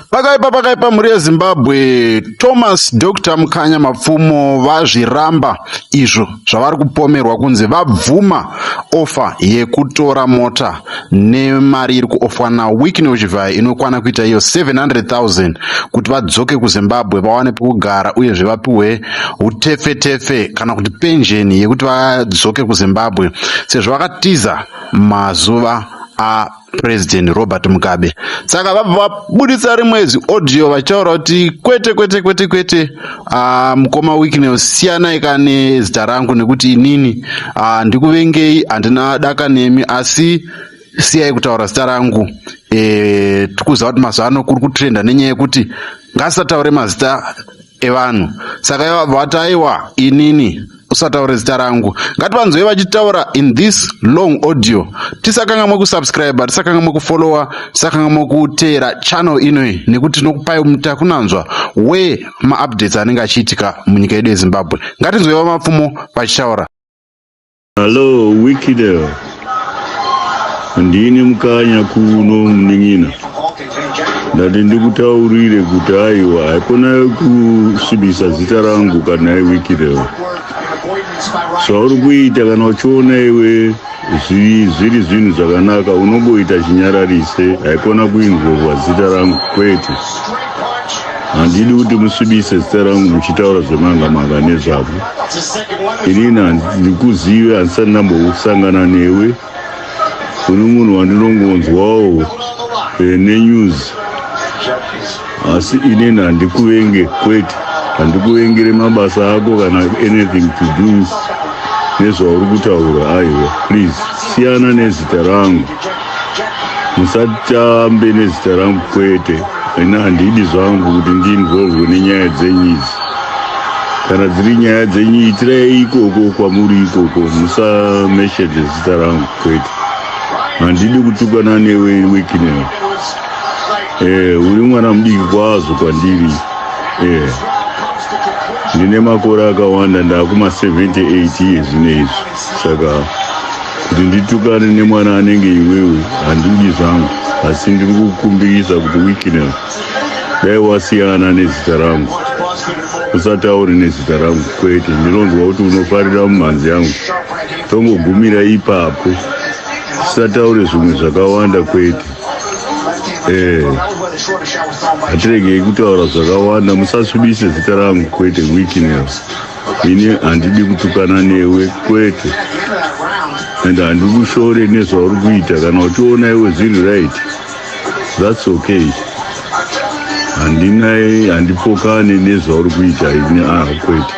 Pakaipa pakaipa mhuri yeZimbabwe Thomas Dr Mukanya Mapfumo vazviramba izvo zvavari kupomerwa kunzi vabvuma ofa yekutora mota nemari iri kuofwa naWickney Uchivhayi inokwana kuita iyo 700,000 kuti vadzoke kuZimbabwe vawane pekugara uyezve vapiwe utefetefe kana kuti penjeni yekuti vadzoke kuZimbabwe sezvo vakatiza mazuva a President Robert Mugabe. Saka vabva vabuditsa rimwe ziaudio vachitaura kuti kwete kwete kwete kwete, uh, mukoma Wicknell siyanai ka nezita rangu nekuti inini uh, ndikuvengei, handina daka nemi asi siyai kutaura zita rangu. E, tikuziva kuti mazuva ano kuri kutrenda nenyaya yekuti ngasataure mazita evanhu saka vati aiwa inini usataure zita rangu ngativanzwei vachitaura in this long audio tisakangamwe kusubscribe tisakangamwe kufollowa tisakangamwe kuteera channel inoyi nekuti tinokupai mutakunanzwa we maupdates anenge achiitika munyika yedu yezimbabwe ngatinzwei vamapfumo vachitaura hallo wikidel ndini mukanya kuno munin'ina ndati ndikutaurire kuti aiwa haikona kusvibisa zita rangu kana iwiki reo zvauri kuita kana uchiona iwe zvi- zviri zvinhu zvakanaka unongoita chinyararise haikona kuinzverwa zita rangu kwete handidi kuti musvibise zita rangu muchitaura zvemanga manga nezvavo inini handikuzive handisati ndambosangana newe uri munhu wandinongonzwawo eh, nenews asi inini handikuvenge kwete handikuvengere mabasa ako kana anything to do nezvauri kutaura aiwa please siyana nezita rangu musatambe nezita rangu kwete ina handidi zvangu kuti ndiinvolvwe nenyaya dzenyu idzi kana dziri nyaya dzenyu itirai ikoko kwamuri ikoko musameshedze zita rangu kwete handidi kutukana newe wekineo eh, uri mwana mudiki kwazvo kwandiri eh, ndine makore akawanda ndaakuma 78 iye zvino izvi saka kuti nditukane nemwana anenge iwewe handidi zvangu asi ndiri kukumbirisa kuti wikinel dai wasiyana nezita rangu usataure nezita rangu kwete ndinonzwa kuti unofarira mumhanzi yangu tongogumira ipapo tisataure zvimwe zvakawanda kwete ee hatiregei kutaura zvakawanda musasvibise zita rangu kwete wikinel ini handidi kutukana newe kwete and handikushore nezvauri kuita kana uchiona iwe zviri right thats okay handina handipokane nezvauri kuita ini ah kwete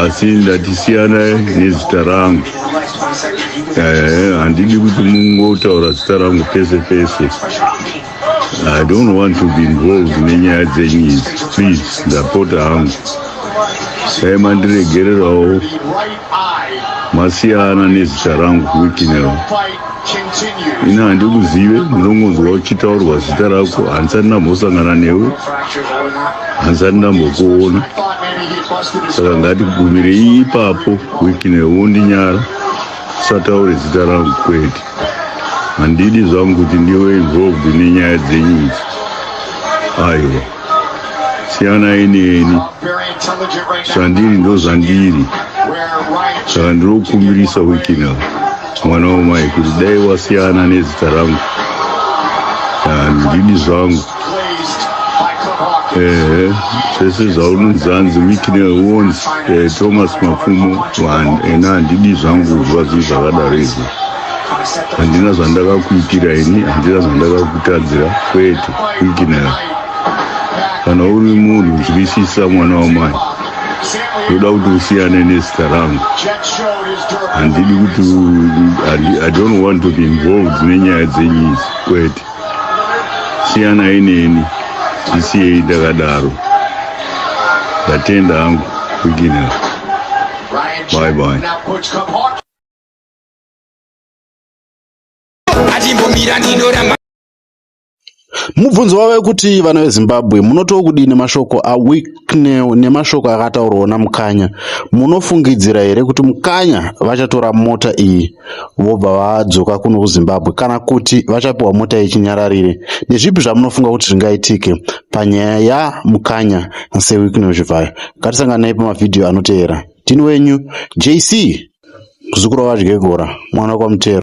asi ndatisiyana nezita rangu Eh, handidi kuti mungotaura zita rangu pese pese I don't want to be involved nenyaya dzenyu idzi please ndapota hangu dai mandiregererawo masiyana nezita rangu kuwikinero ini handikuzive ndinongonzwa uchitaurwa zita rako handisati ndambosangana newe handisati ndambokuona saka ngatigumirei ipapo wikinero wondinyara Usataure zita rangu kwete. Handidi zvangu kuti ndiwe involved nenyaya dzenyu idzi. Aiwa. Siyanai neni. Zvandiri ndozvandiri. Saka ndirokumbirisa weekend apa mwana wamai kuti dai wasiyana nezita rangu. Handidi zvangu. ehe zvese zvaunonzi hanzi wikine wons eh, thomas mapfumo one ena handidi zvangu kuzwa zii zvakadaro izvi handina zvandakakuitira ini handina zvandakakutadzira kwete wikinera kana uri munhu unzwisisa mwana wamai ndoda kuti usiyane nezita rangu handidi kuti i don't want to be involved nenyaya dzenyizi kwete Siyanai neni ndisiyei ndakadaro. Ndatenda hangu beginner. Bye bye. Achimbomira ndinoramba Mubvunzo wave kuti vana veZimbabwe munotiwo kudini mashoko aWicknell nemashoko akataurwawo naMukanya. Munofungidzira here kuti Mukanya vachatora mota iyi? vobva vadzoka kuno kuzimbabwe kana kuti vachapiwa mota yechinyararire ndezvipi zvamunofunga kuti zvingaitike panyaya yamukanya sewiknozvivhayo ngatisanganei pamavhidhiyo anoteera tini wenyu jc kuzukura vadyegora mwana kwamutero